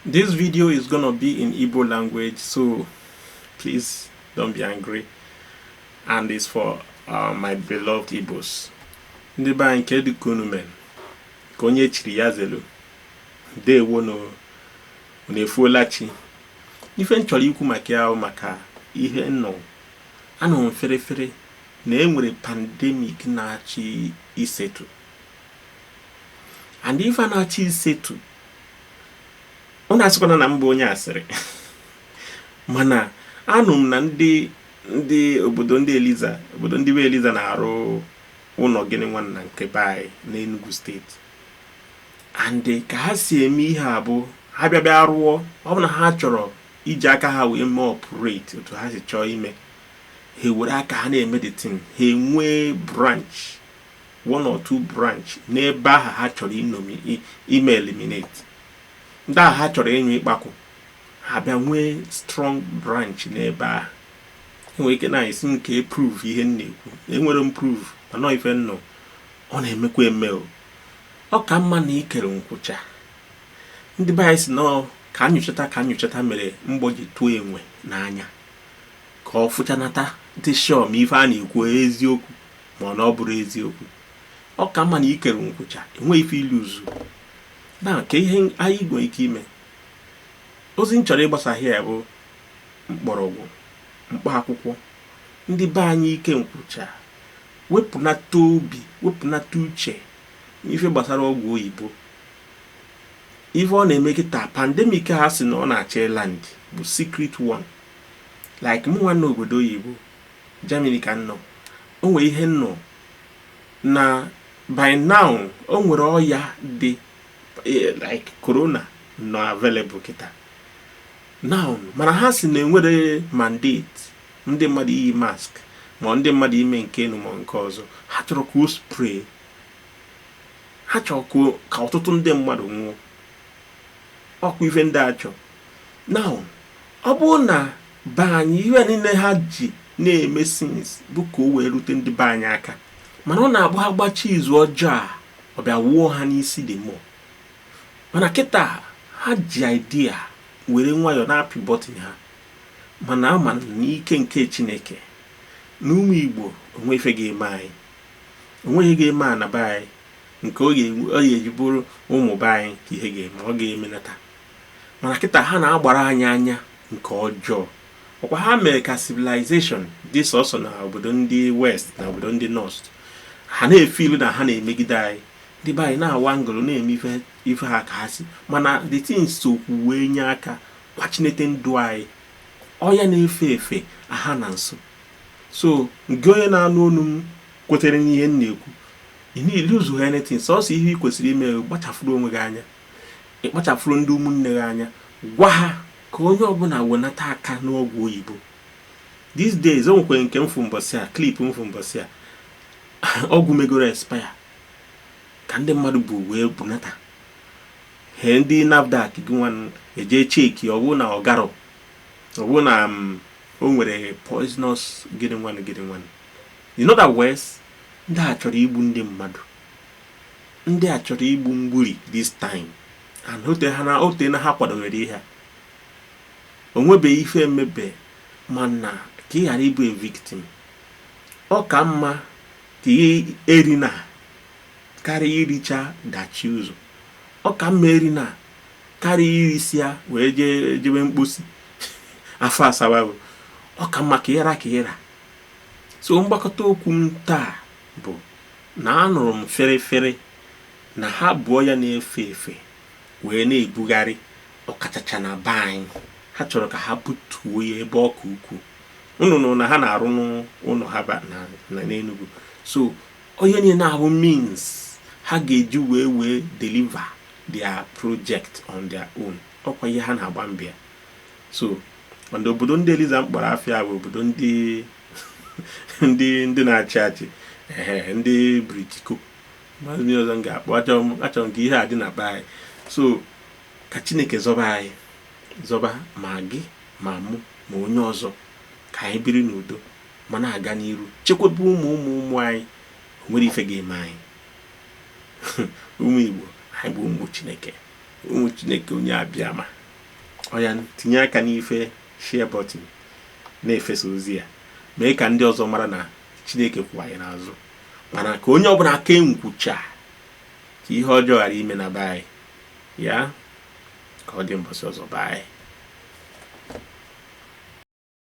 This video is gonna be in Igbo language, so please don't be angry. And it's for uh, my beloved Igbos. Ndị be anyị kedụ ka unu mere ka onye chiri ya zelu dewo na efuola chi ife m chọrọ ikwu maka ya maka ihe m nụ anụ ferefere na enwere pandemic na-achọ isetu and ife na-achọ isetu unu asịkwana na m bụ onye asịrị mana anụ m na ndị ndị obodo ndị eliza obodo ndị be eliza na-arụ ụlọ gịnị nwanna nke be anyị n'Enugu steeti and ka ha si eme ihe a bụ ha bịa bịa rụọ ọ bụ na ha chọrọ iji aka ha wee mee operate otu ha si chọọ ime ha were aka ha na-eme the thing ha enwee branch one or two branch n'ebe ahụ ha chọrọ ịnọ ime eliminate ndị ahụ ha chọrọ ịnyụ ikpakwu ha bịa nwee strong branch n'ebe ahụ enwere ike unu asị kee proof ihe m na-ekwu enwerọ m proof mana ife m nụ ọ na-emekwa eme o ọ ka mma na i kere nkwụcha ndị be anyị sị na ka m nyochata ka m nyochata mere mgbọ ji tụọ enwe n'anya ka ọ fụchanata dị sure ma ife a na-ekwu eziokwu ma ọ na ọ bụrọ eziokwu ọ ka mma na i kere nkwụcha enweghị ife i luuzu na kee ihe anyị nwere ike ime ozi m chọrọ ịgbasa here bụ mkpọrọgwụ mkpa akwụkwọ ndị be anyị ike nkwụcha wepụnata obi wepụnata uche n'ife gbasara ọgwụ oyibo ife ọ na-eme kịta pandemic ha sị na ọ na-achọ ịland bụ secret one like mụnwa nọ obodo oyibo Germany ka m nọ o nwere ihe m nụ na by now o nwere ọya dị eh, like corona nọ available kịta now mana ha sị na enwerọ mandate ndị mmadụ iyi mask ma ndị mmadụ ime nke enu ma nke ọzọ ha chọrọ ka o spread ha chọrọ ka ọtụtụ ndị mmadụ nwụọ ọ kwa ife ndị a chọ now ọ bụrụ na be anyị ihe niile ha ji na-eme since bụ ka o wee rute ndị be anyị aka mana ọ na-abụ ha gbachaa izu ọjọọ a ọ bịa wuo ha n'isi the more mana kịta ha ji idea were nwayọọ na-apị button ha mana ama m n'ike nke chineke na ụmụ igbo onweghị ife ga-eme anyị onweghị ihe ga-eme ana be anyị nke ọ ga-eji bụrụ ụmụ be anyị ka ihe ga-eme ọ ga-emenata Mana kịta ha na-agbara anyị anya nke ọjọọ. Ọkwa ha mere ka civilization dị sọsọ na obodo ndị West na obodo ndị North. Ha na-efeel na ha na-emegide anyị. Ndị be anyị na-awa ngolo na-eme ife ha ka ha si. Mana the thing sokwu wee nye aka kwachinete ndụ anyị. Ọya na-efe efe aha na nso. So ngị onye na-anụ onu m kwetere n'ihe m na-ekwu, ị na-elose anything sọsọ ihe ị kwesịrị ime kpachafụrụ onwe gị anya. ịkpachafụrụ ndị ụmụnne gị anya gwa ha ka onye ọbụla wenata aka n'ọgwụ oyibo these days o nwekwere nke m fụ mbọsị a clip m fụ mbọsị a ọgwụ megoro expire ka ndị mmadụ bu wee bunata he ndị nafdac gị nwa eje check ọ bụrụ na ọ garọ ọ bụrụ na mm, o nwere poisonous gịnị nwanụ gịnị nwanụ in other words ndị a chọrọ igbu ndị mmadụ ndị a chọrọ igbu mgburi this time and o tena ha kwadowere ihe a o nwebeghị ife mebe mana ka ị ghara ịbụ a victim ọ ka mma ka ị erina karịa iricha dachie ụzọ ọ ka mma erina karịa irisịa wee jebe mkposi afọ asawa bụ ọ ka mma ka ị ra ka ị ra so mgbakọta okwu m taa bụ na anụrụ m fịrịfịrị na ha bu ọya na-efe efe wee na-ebugharị ọkachacha na be anyị ha chọrọ ka ha butuo ya ebe ọ ka ukwuu unu nụ na ha na-arụnụ ụnọ ha ba- na na n'Enugu so onye niile na-abụ means ha ga-eji wee wee deliver their project on their own ọkwa ihe ha na-agba mbọ ya so mana obodo ndị eliza m kpọrọ afa ya bụ obodo ndị ndị ndị na-achị achị ee ndị britiko maazị ndị ọzọ m ga-akpọ achọrọ m achọrọ m ka ihe a dị na be anyị so ka chineke zọba anyị zọba ma gị ma mụ ma onye ọzọ ka anyị biri n'udo ma na-aga n'iru chekwaba ụmụ ụmụ ụmụ anyị o nwerọ ife ga-eme anyị ụmụ igbo anyị bụ ụmụ chineke ụmụ chineke onye abịama oya tinye aka n'ife share button na-efesa ozi a mee ka ndị ọzọ mara na chineke kwụ anyị n'azụ mana ka onye ọbụla kee nkwụcha ka ihe ọjọọ ghara ime na be anyị ya ka ọ dị mbọsị ọzọ bye